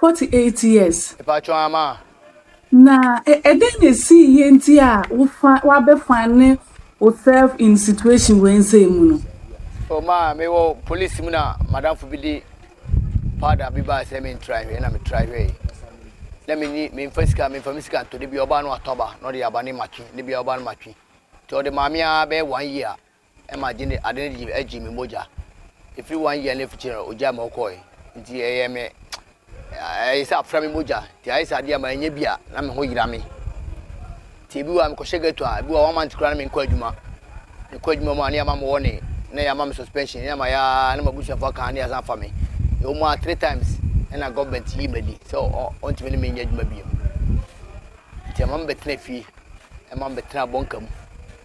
Forty eight years. Mpatsɔ ama a. Na ɛdɛn na esii yɛ nti a wo fa wabɛ find ne wo self in situation wei nsɛɛ mu no? Oh maa me wɔ police mu na madamfo bi de powder bi baa sɛ me ntra hwɛ na me tra hwɛ yi na me ni me nfa sika me nfa me sika ntɔ de bi ɔbaa no atɔ aba na ɔde aba ne matwi ne bi ɔbaa no matwi nti ɔde maame a bɛyɛ one year ma agye ne ade no gye agye me mogya ɛfiri one year no afikyire no ogyaa ma ɔkɔɔe nti ɛyɛ me ɛyɛ sɛ afra me mogya nti ayɛ sɛ adeɛ a manyɛ bi a na me ho yera me nti ebi wɔ a mekɔhyɛ ghetto a ebi wɔ one month koraa na menkɔ adwuma mekɔ adwuma mu a ne yɛama me wɔne na yɛama me suspension ne ama yɛa ne ma busuafoɔ aka ne yɛasan afa me yɛwɔ mu a three times ɛna government yi madi sɛ ɔntumi ne menyɛ adwuma biem nti ɛma mebɛtena fie ɛma mebɛtena bɔnka mu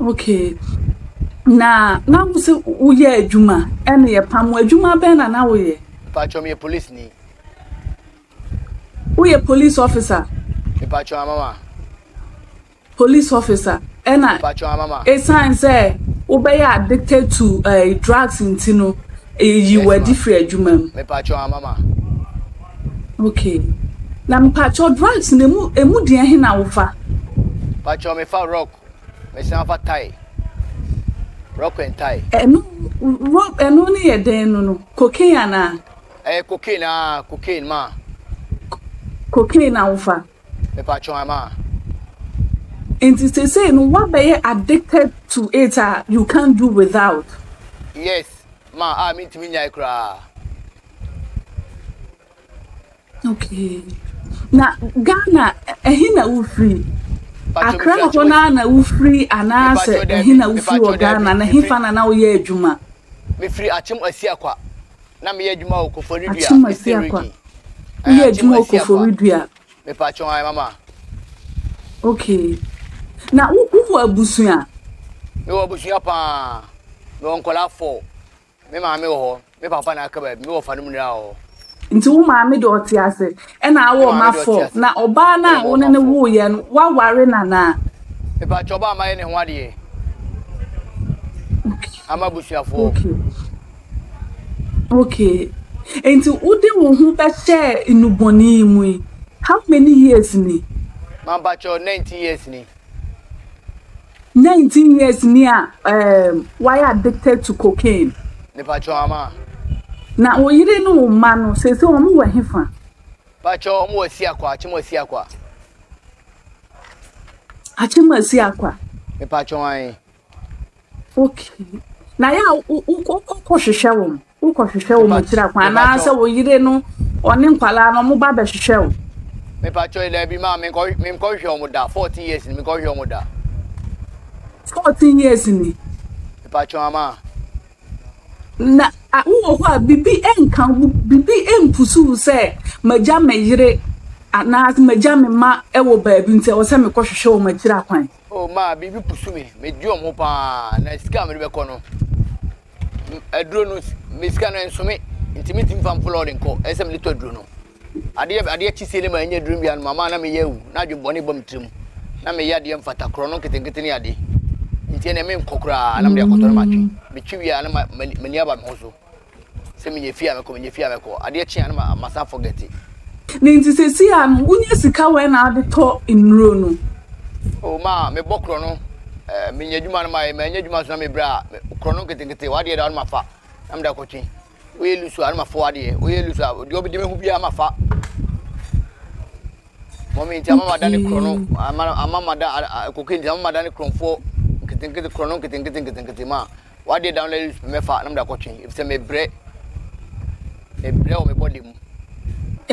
Okay, na na wo sɛ woyɛ adwuma ɛna yɛ pam adwuma bɛn na na woyɛ? Mpatsɔ meyɛ police ni. Woyɛ police officer? Mpatsɔ amama. Police officer ɛna Mpatsɔ amama. Esan sɛ wobɛyɛ addicted to uh, drugs nti no eyi yes, wadi firi adwuma mu. Mpatsɔ amama. Okay na mpakyɛw drugs no emu emu deɛ he na wofa? Mpakyɛw me fa rock me san fa tie rock and tie. Ɛno rock ɛno ne yɛ dɛn no no cocaine anaa? Ɛyɛ cocaine aa cocaine maa. Cocaine na wofa? Me pakyɛw a maa. Nti sesei no wabɛyɛ addicted to it a you can't do without? Yes. ma a mentumi nnyae koraa. Okay. Na Ghana ɛhe na wofiri? Accra hɔ no ara na wofiri anaasɛ ɛhe na wofiri wɔ Ghana na ɛhefa na na woyɛ adwuma? Mefiri Akyem Asiakwa na meyɛ adwuma wɔ Koforidua Eastern Region. Woyɛ adwuma wɔ Koforidua. Mepakyɛw ae mama. Okay. Na wo wo wɔ abusua? Me wɔ abusua paa. Me wɔ nkɔla four. Me maame wɔ hɔ. Me papa na aka baabi. Me wɔ fa no mu nyinaa wɔ hɔ. Nti wo maame de ɔte ase. Ɛna awo ɔma four. Na ɔbaa na wo ne ne wo yɛ no wa ware na na. Mepakyɛw ɔbaa ma yɛ ne ho adeɛ. Okay. Ama abusua foɔ. Okay. Okay, nti wode wo ho bɛhyɛɛ nnubɔne yi mu yi, how many years ni? Mampakyɛw, nineteen years ni. Nineteen years ni a um, wayɛ addicted to cocaine. Mepakyɛw ama. Na wo yere ne wo mma no, sese wɔn wɔ hefa? Pakyɛw, wɔn wɔ Siakwa, Akyem wɔ Siakwa. Akyem wɔ Siakwa. Mepakyɛw an. Okay. Na yɛ a wokɔhwehwɛ wɔn wokɔhwehwɛ wɔn akyiri akwan anaasɛ wo yere no ɔne nkwadaa no wɔba bɛhwehwɛ wo. mepakyɛ yi daabi maa menkɔhwehwɛ wɔn da fourteen years ni menkɔhwehwɛ wɔn da. fourteen years ni. mepakyɛ ama. na wowɔ hɔ a biribi nka biribi mpusu sɛ magya me yere anaasɛ magya me ma wɔ baabi nti ɛwɔ sɛ mekɔhwehwɛ wɔn akyiri akwan. Oh maa biribi pusu me medi wɔn ho paa na sika a mede bɛkɔ no aduro no me sika no nso me nti me ntumi fa mfolo ɔde nkɔ ɛsɛ me de tɔ aduro no adeɛ adeɛ kyi sie ne ma ɛnyɛ aduro bi anoma maa na meyɛ awu na adwene bɔne bɔ me tirim na meyɛ adeɛ mfata korɔ no nketenkete ne adeɛ nti ɛnna me nkɔ koraa na mede akɔtɔ no matwe metwi wie a na m'ani aba me ho so Sɛ minya fie a mɛkɔ, minya fie a mɛkɔ, adeɛ kye a na ma masan forgɛte. Ne nti sesei a no, wonya sika wɛn na ade tɔ nnuro no? Oh ma mebɔ korɔno, eh, menya adwuma no ma, eh, manya adwuma nso na mebrɛ a, me, korɔno nketenkete, w'adeɛ da hɔ na mafa, na mede akɔtwe. Woyɛ lusu a na mafa w'adeɛ, woyɛ lusu a, deɛ ɔbɛdi me ho biara mafa.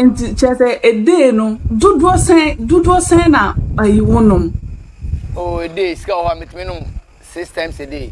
Nti kyerɛ sɛ edee no dodoɔ sɛn dodoɔ sɛn na ayi wonom? Oh, edee sika wɔ hɔ a metumi nom six times a day.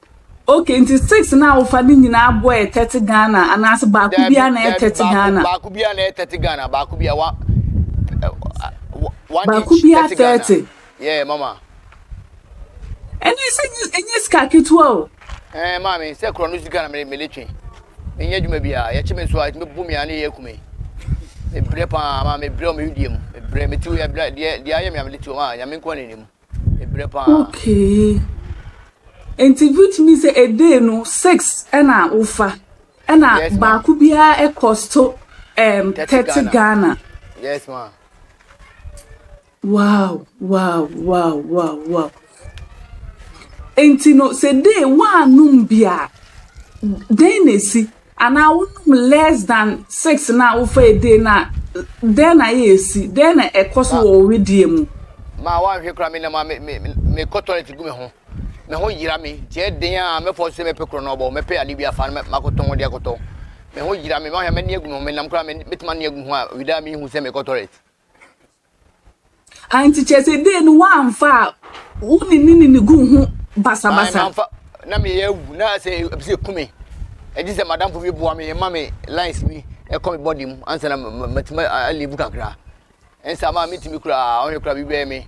Okay nti six na wofa ne nyinaa boɔ yɛ thirty Ghana anaasɛ baako biara na yɛ thirty Ghana? Baako biara na yɛ thirty Ghana baako biara wa one baako biara thirty. Yeah mama. Ɛnna ɛsɛ ɛnyɛ sika ketewa o. Ɛɛ maame sɛ korɔ no sika na mele mele twe menyɛ adwuma biara yɛkye me nso a ɛtumi bu me a ne yɛ akume mebrɛ paa ma mebrɛ ɔmo yɛ dua mu mebrɛ metiw yɛ brɛ deɛ deɛ ayɛ me a mede tiw ɔmo a nyame nko na anim. ɛbrɛ paa. Okay nti which means sɛ a day no six ɛna wofa ɛna Yes, ma. baako biara ɛ cost to um, 30 thirty Ghana. Ghana. yes ma Wow, wow, wow, wow, wow. Nti no sɛ day woanom bi a dɛn na esi? Anaa wonom less than six no a wofa edee no a, dɛn na ɛresi? Dɛn na ɛkɔ so Ma, wɔ wo wedeɛ mu? ma woanhwɛ koraa me nam a me, me, mekɔ toilet gu me ho. Me ho yera me, nti ɛyɛ den a mɛfɔɔse sɛ mɛpɛ korɔnɔɔbɔ, mɛpɛ adeɛ bi afa na makɔtɔn wɔde akɔtɔ. Me ho yera me, woanhwɛ a mɛne agu me ho, me nam koraa a mɛtumi ane agu me ho a, owida a menhu sɛ mekɔ toilet. Ah, nti kyerɛ sɛ dee no woamfa a wo ne ne nini guu ho basabasa? Ae, mamfa. Na meyɛ awu, na sɛ ɛpɛ sɛ ɛku me. Ɛgye sɛ m'adamfo bi boa me, ɛma me lines bi ɛkɔ me body mu, ansa na matumi alivu kakra. Ɛnsa maa metumi koraa, ɔhwɛ koraa biribi bɛyɛ me.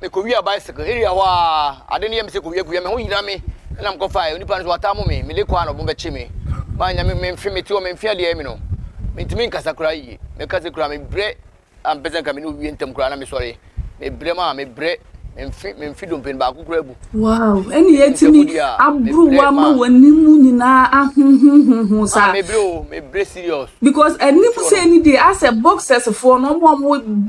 Mekowia bicycle area hɔ aa ade no yɛ me sɛ kowia kowia me ho yira me na mekɔ fae onipa no so wataa mo me mede kɔ a na ɔbom bɛkye me manya me mfe mete hɔ me mfe adeɛ ayɛ me no mentumi nkasa koraa yie meka sɛ koraa mebrɛ ampɛ sɛ nka me ne owie ntam koraa na mesɔre mebrɛ maa mebrɛ me mfe me mfe dompen baako koraa abu Wow, ɛne yɛtumi aboro ama w'anim nyinaa ahohohoho saa. Mebre o, mebre serious. Because anim sɛ ni deɛ asɛ boxers foɔ no ɔmo ɔmo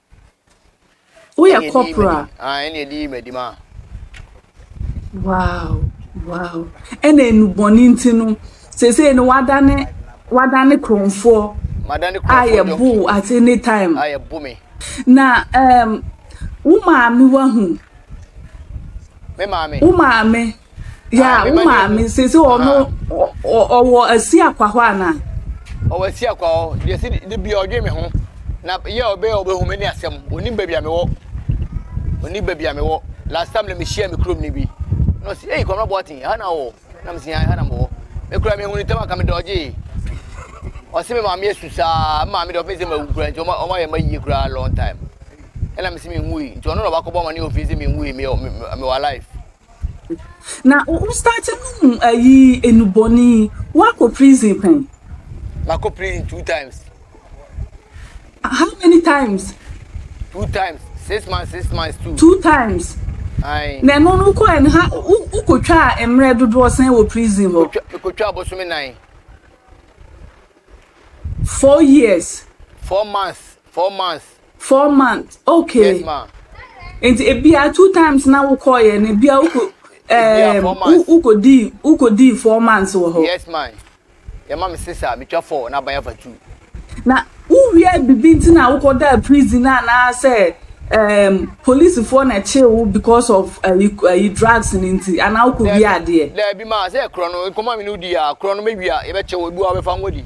Woyɛ corporal a? Ah, ɛne ɛde yi m'adim a. Wow, wow. Ɛna enubɔne nti no, seesei no wadane wadane kurɔnfoɔ a yɛbo at any time. Na um, wo maame wahu. Me maame. Wo maame. Yeah, wo maame sese ɔno ɔwɔ asi akwa hɔ ana. Ɔwɔ asi akwa hɔ deɛ si de bi ɔdwe me ho na yɛ ɔbɛ ɔbɛ hu me ne asɛm onim baabi a mewɔ onim baabi a mewɔ last time na mehyia me kurom ni bi na ɔsi eyi kɔmra bɔɔten ha na ɔwɔ na me si ha na mewɔ me kura me hu ne tam aka me dɔgye ɔsi me maame esu saa maame de ɔfɛn sɛ ma wu kura nti ɔma ɔma yɛ ma yie kura long time ɛna me si me hu yi nti ɔno na ɔbakɔ bɔ ama ne ofin sɛ me hu yi me me me wɔ alive. Na wo wo start no mu ayi enubɔni wakɔ prison pɛn. Makɔ prison two times. How many times? Two times six months six months two. Two times. Ayi. Na ɛno no kɔ ɛn ha wokotwa mmerɛ dodoɔ sɛn wɔ prison hɔ. Mekotwa abosome nan. Four years. Four months four months. Four months ok Yes ma. nti ebia two times na wokɔɔyɛ no ebia wokɔ E- ebia ɛɛm four wo months. wokɔdii wokɔdii four months wɔ hɔ Yes ma. Yɛma me six a metwa four na aban afa two. na wowia bibi nti na wokɔdaa prison anaasɛ ɛɛm polisifoɔ na ɛkyee wo because of ayi ayi drugs no nti anaa wokɔwia Daabi adeɛ. daabi ma sɛ korɔ no nkɔmmɔ a me ne wo di a korɔ no mɛwia yɛbɛkye wo ebi wɔ hɔ a wobɛfa ngo adi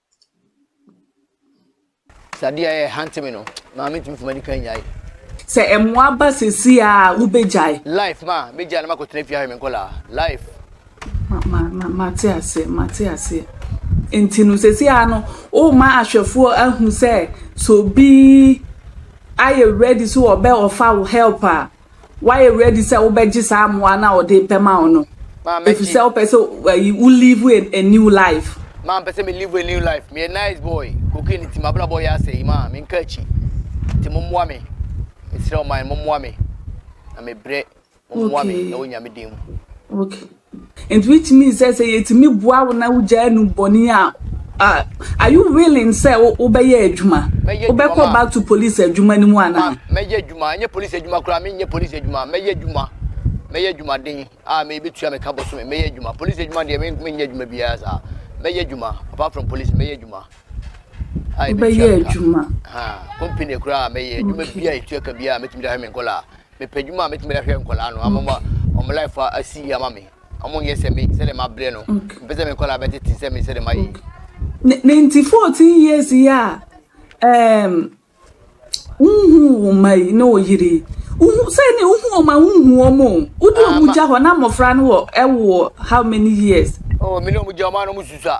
Sɛ adeɛ a ɛhante me no, maa mentumi mfama di kan nyae. Sɛ mmoa ba seesei a, wobɛgyae. Life, ma mɛgyae na makɔtena fie ahwɛ me nkɔlaa. Life. Ma, ma, ma, mate aseɛ, mate aseɛ. Nti no, seesei a no, woma ahwɛfoɔ ahu sɛ, sɛ obi ayɛ ready sɛ ɔbɛ offer wo help a, Woayɛ ready sɛ wobɛgye saa mmoa no a ɔde repɛ ma wo no? Ma mɛgye. Efisɛ wopɛ sɛ ayi wo live a, a new life. Ma mpɛ sɛ me live a new life. Meyɛ nice boy. Cocaine nti m'abrabɔ yɛ asɛe. Ma menka akyi. Nti mommoa me. Mesrɛ wo man, mommoa me. Na mebrɛ. Mommoa me. Okay. Ɛwɔ Nyame din mu. Okay. Enti wetumi sɛ sɛ yɛtumi boa wo na wogyaa anum bɔne a, a are you willing sɛ wobɛyɛ adwuma? Mɛyɛ adwuma Wobɛkɔ ma. back to police adwuma no mu Ma anaa? mɛyɛ adwuma, ɛnyɛ polisi adwuma koraa, menyɛ polisi adwuma, mɛyɛ adwuma, mɛyɛ adwumaden a me betua me ka bosome, mɛyɛ adwuma. Polisi adwuma deɛ men- menyɛ adwuma biara saa. Mɛyɛ adwuma, apart from polisi, mɛyɛ adwuma a ebetua Wobɛyɛ me ka. adwuma. Ha, company koraa mɛyɛ adwuma Okay. biara a etua ka biara a metumi de ahwɛ me nkɔlaa. Mepɛ adwuma a mɛtumi de ahwɛ nkwadaa no ama wɔn life asi yie ama me. Wɔn nyɛ sɛ me sɛdeɛ mabrɛ no. Mpɛ sɛ me nkwadaa bɛtete sɛ me sɛdeɛ mayɛ yi. Ne nti fourteen years yi a ɛɛm wohu wo mma yi ne wo yere yi wohu sɛ ne wohu wɔn a wohu wɔn o wode wɔn gya hɔ na mmɔfra no wɔ ɛwɔ how many years. Oh, me ne wɔn gya wɔn a na wɔn susua.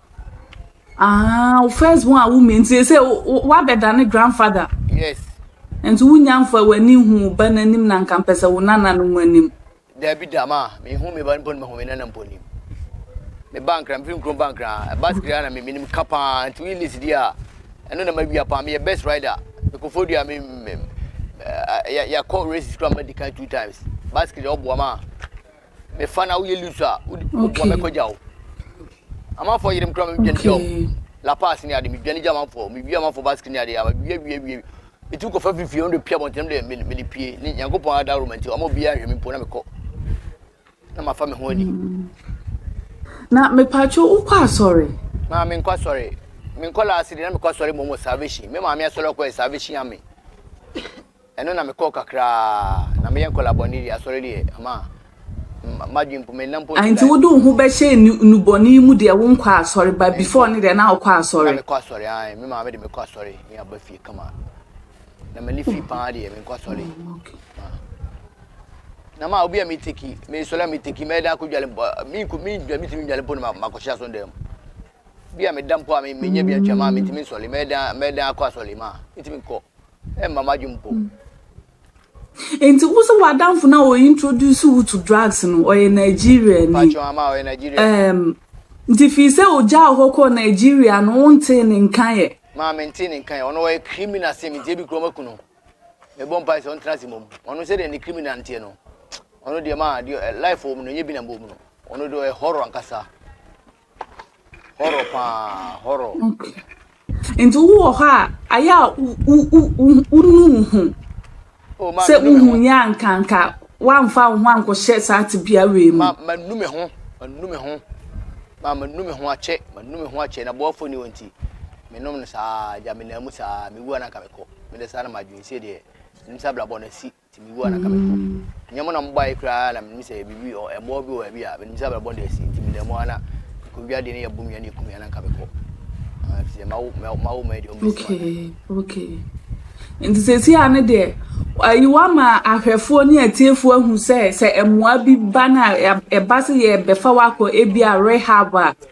Ah, wo first born a wo mi nti sɛ woabɛdane grandfather. Yes. Nti wonya mfa w'ani hu wo ba n'anim na nka mpɛ sɛ wo nana no mu anim. Dabi da ma mehu me ba mpo no mahu me nana mpo anim. Me ba nkra mefiri nkrom ba nkra ɛba sikiri ara na me menim ka paa nti woyi list di a ɛno na mawia paa meyɛ best rider mekɔfo dua me yɛkɔ races kora madi kan two times ba sikiri ɔboa ma mefa na woyɛ lusu a woboa me kɔgya wo amanfoɔ yerem kora me dwane gya wo la pass ne ade me dwane gya amanfoɔ me wie amanfoɔ basket ne ade ama wie wie wie me tu kɔfa fifie wɔn de pia bɔntɛm de me me de pie ne nyankopɔn adaworo ma nti wɔn obi ahwɛ me mpo na mekɔ na mafa me ho ani. Mm. na mepatwo wokɔ asɔre. maa menkɔ asɔre menkɔ laase de na mekɔ asɔre mmom wɔ salvation me maame asɔre ɔkɔɛ salvation ame Ɛno na mekɔɔ kakra a na meyɛ nkwadaa bɔne deɛ asɔre deɛ ama madwene mpo menna mpo nte Nti life. wode wo ho bɛhyɛɛ nnubɔne yi mu deɛ wonkɔɔ asɔre ba before no deɛ na wokɔ asɔre. Na mekɔ asɔre ae me maame de mekɔ asɔre me aba fie kama na mani fi paa deɛ menkɔ asɔre ma na ma obi a me teki me sɔre a me teki mɛda akɔ dwale mpo me nko me dwa me timi dwale mpo na makɔ hyɛ aso dɛm bi a meda mpo a me nyɛ bi atwa ma me timi nsɔre mɛda mɛda akɔ asɔre ma me timi nkɔ Ɛmma m'adwene mpo. Nti wo sɛ w'adamfo no a ɔ introduce wo to drugs no ɔyɛ Nigeria ni? Mpakyɛw ama ɔyɛ Nigeria. Ɛɛm nti fii sɛ ogyaa hɔ kɔɔ Nigeria no wontee ne nka ɛ? Maa mentee ne nka ɛ. Ɔno ɔyɛ criminal sen me nti ebi koraa wɔaku no. Mebɔ mpae sɛ ɔntena ase mmom. Ɔno sɛdeɛ ne criminal nteɛ no ɔno deɛ maa deɛ life wɔ mu no ɛnyɛ bi na ɛwɔ mu no. Ɔno deɛ ɔyɛ horror ankasa. Horror paa horror. Okay. Nti wo wɔ hɔ a ayɛ a wonu wo ho sɛ wohu yɛ ankanka woamfa wo ho ankɔhyɛ saa tebea wei mu. Manu me ho manu me ho ma manu me ho akyɛ manu me ho akyɛ na boafo ni wɔ nti menom no saa gya menam mu saa mewua na nka mekɔ mede saa na madwene sie deɛ nim sɛ abrabɔ no asi Nti mebua na anka mɛhwɛ bi. Nyɛ mo na mobɔ aye koraa na menim sɛ biribi wɔ hɔ, ɛboɔ bi wɔ baabi a menim sɛ abrabɔ da asi, nti meda mu ara na mekɔdwi adeɛ na yɛbom yɛ na yɛkum yɛ na anka mekɔ. Ah, ɛfiri sɛ mawo, mawo, mawo mmaa deɛ ɔmbɛsi mo anan. Okay, okay. Nti seesei ara no deɛ, ayi woama ahwɛfoɔ ne atiefoɔ ahu sɛ, sɛ mmoa bi ba no a, ɛba sɛ yɛbɛfa wo akɔ ebia rehab a,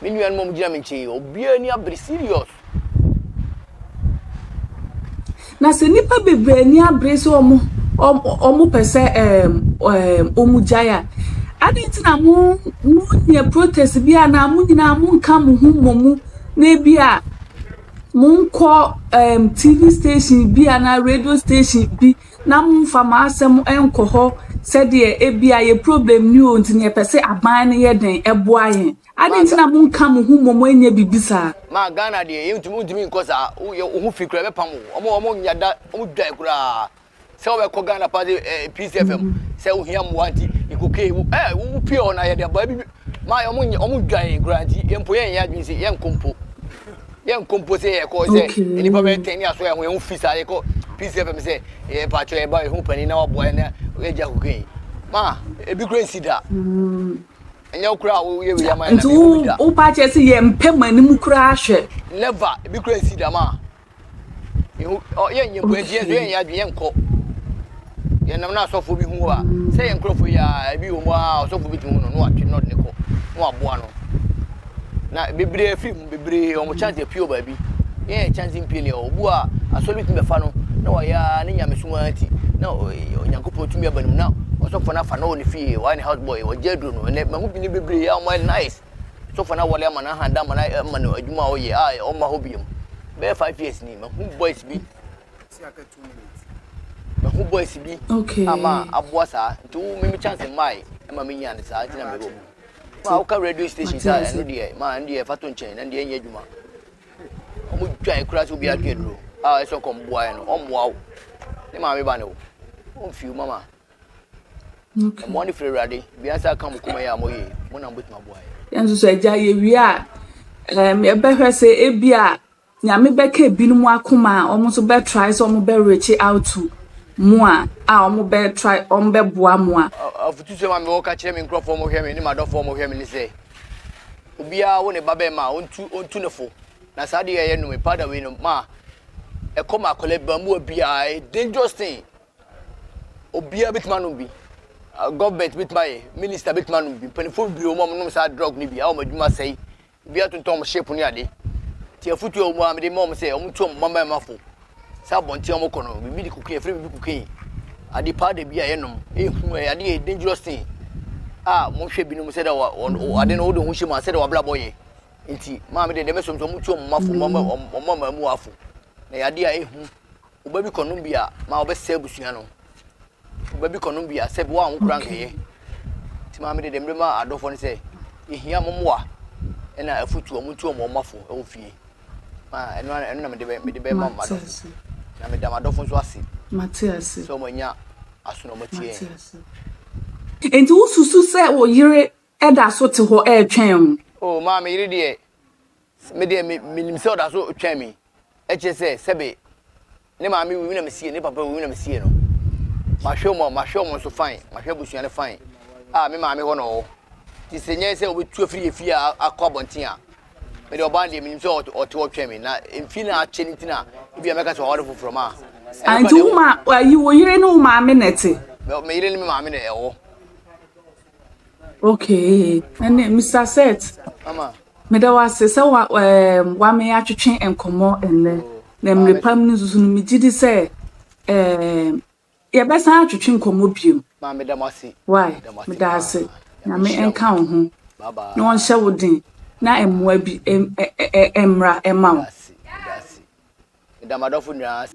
Me nuanom a wɔgyina me nkyɛn yi, obiara ani abere serious. Na sɛ nnipa bebree ani abere sɛ wɔn wɔn pɛ sɛ ɛɛm ɛɛm wɔn gyae a, adɛn nti na mo mo nyɛ protest bi a na mo nyinaa mo nka mo ho mmɔ mu na ebi a mo nkɔ ɛɛm tv station bi a na radio station bi na momfa mo asɛm nkɔ hɔ sɛdeɛ ebia yɛ problem ni o nti na yɛpɛ sɛ aban no yɛ dɛn ɛboa yɛn. Adɛn nti na monka mo ho mmom ɛnyɛ biribi saa? Ma Ghana deɛ yɛ ntumi ntumi nkɔ saa wo yɛ wo ho fi koraa ɛbɛpam wo ɔmo ɔmo nya da ɔmo dwae koraa sɛ wobɛkɔ Ghana paa sɛ ɛɛ peace fm sɛ wohia mmoa nti yɛ kokee wo ɛɛ wo pie hɔ na yɛde aboa bi Maa wɔn nyɛ wɔn dwan yɛn koraa nti yɛn mpo yɛn nyɛ adwene sɛ yɛn kɔ mpo yɛn nkɔ mpo sɛ yɛn kɔ sɛ okay. nipa bɛyɛ tɛn ni aso yɛn ho yɛn ho fi saa yɛ kɔ peace fm sɛ yɛ paatwa yɛ ba yɛ ho panin na waboa yɛn na yɛ gya kukan yi maa ebi kura nsi da. Mm. ɛnyɛ wokura a woyɛ wei ama nti wopakyɛ sɛ yɛmpɛ ma anim koraa hwɛ never ebi kura nsi dama Yehu ɔ yɛn nyɛ bua diɛ yɛn yɛ adwene yɛn kɔ. Yɛn nam na asɔfo bi hu a sɛ yɛn nkurɔfo yi a ebi wɔ mu a ɔsɔfo bi ti hu no no atwe no de ne kɔ no aboa no. Na bebree firi mu bebree wɔn chance apio baabi. Yɛn yɛ chance mpie lɛ obu a asɔre bi tumi bɛfa no na wɔyɛ ne nyamesom ara ti na Onyankopɔn tumi aba ne mu na ɔsɔfo no afa na ɔwɔ ne fie wɔayɛ ne house boy wɔgye aduro no ɛnɛ mahu bi ne bebree a wɔyɛ nice So fa na wɔde ama no aha da ama no ama no adwuma a ɔyɛ a ɔmma hɔ biom bɛyɛ five years ni mahu boys bi mahu boys bi okay. ama aboa saa nti wo mimi chance mmae ɛma me nyaa no saa nti na mewɔ mu ma woka radio station saa ɛno deɛ ma ɛno deɛ fa to nkyɛn na deɛ ɛnyɛ adwuma ɔmo dwae kura sɛ obi adwe aduro a ɛsɛ ɔkɔmboaeɛ no ɔmmoa wo ne maame ba ne wo ɔmfiw mama Okay. Ɛmoa no firi Awurade. Bia sɛ aka mo koma yɛ a mo yɛ. Mo na mo betumi aboa yɛ. Yɛn nso so agya yɛ wie a, ɛɛm yɛbɛhwɛ sɛ ebi a nyame bɛka ebinom akoma a wɔn nso bɛ try sɛ wɔn bɛ reach out to mo a a wɔn bɛ try wɔn bɛ boa mo a. Afutusɛm a mewɔ ka kyerɛ me nkurɔfoɔ mo hwɛ me ne m'adɔfoɔ mo hwɛ me ne sɛ obiara wo ne ba bɛrima a ɔntu ɔntu ne fo na saa adeɛ a yɛnom powder wei no ma ɛkɔ ma akwadaa bamuwa biara dangerous thing Obiara bɛtumi anom bi. Government bɛtumi ayɛ, minister bɛtumi anom bi. Mpanimfoɔ bebree wɔ mu a wɔnom saa drug no bi a wɔn adwuma sɛe. Ebi atontɔn wɔn ship ne ade. Nti afotuo a wɔwɔ mu a mede ma wɔn sɛ wɔntu wɔn mmabarima fo sɛ abɔnten a wɔkɔ no, biribi de cocaine, yɛfrɛ biribi cocaine, ade powder bi a yɛnom, ɛyɛ hu, ɛyɛ ade yɛ dangerous thing a wɔhwɛ binom sɛ dɛ wɔ ade no wode ho hyɛ mu a sɛ dɛ w'abrabɔ yɛ. Nti maame deɛ deɛ mɛsom sɛ wɔntu wɔn mma fo, wɔn mma wɔn mma mmaamua fo. Na ɛyɛ ade a ɛyɛ hu. Wo ba bi kɔnom bi a, ma ɔbɛsɛe abusua no. Wo ba bi kɔnom bi a, sɛ bi wɔ a ho kura nkɛyɛ. Nti maame de dɛm de ma adɔfoɔ no sɛ, yɛhia mo mmoa ɛna afutuo, ɔmo ntu ɔmo ɔmo afo ɛwɔ fie. Ma ɛno ara ɛno na mede bɛ mede bɛ ma m'adɔfo. Na meda m'adɔfo nso ase sɛ ɔmo anya aso na ɔmo atie yɛn. Nti wo susu sɛ wo yere Ɛda so te hɔ retwɛn wo. Oh, maa me yere deɛ, me deɛ me, menim sɛ ɔda so retwɛn me. Ɛkyerɛ sɛ, sɛbe, ne maame wui, me na mesiee, ne papa wui, me na mesiee no. Mahwɛ wɔn, mahwɛ wɔn nso fine, mahwɛ abusua no fine. Ah, me maame hɔ na ɔwɔ. Nti sɛ ɛnyɛ sɛ ɔbɛtu afiri yɛn fie a akɔ abɔnten a, me deɛ ɔbaa no deɛ, menim sɛ ɔte hɔ retwɛn me. Na mfie no a akyɛ no nti na ebia mɛka sɛ waware foforɔ, maa. Ah, nti wo ma, ayi, wo yere ne wo maame na ɛte? Me, me yere ne me maame na ɛwɔ. Okay, ɛnna Mr. Seth, meda wo ase sɛ wa ɛɛm wame atwetwe nkɔmmɔ ɛnnɛ na mmiri pam no nso no megye di sɛ ɛɛm yɛbɛsan atwetwe nkɔmmɔ biom. Maa meda mo ase. Why? Meda ase. Nyame nka wo ho na ɔnhyɛ wo den na mmoa bi mmra ɛma wo. Meda m'adɔfo nyinaa ase.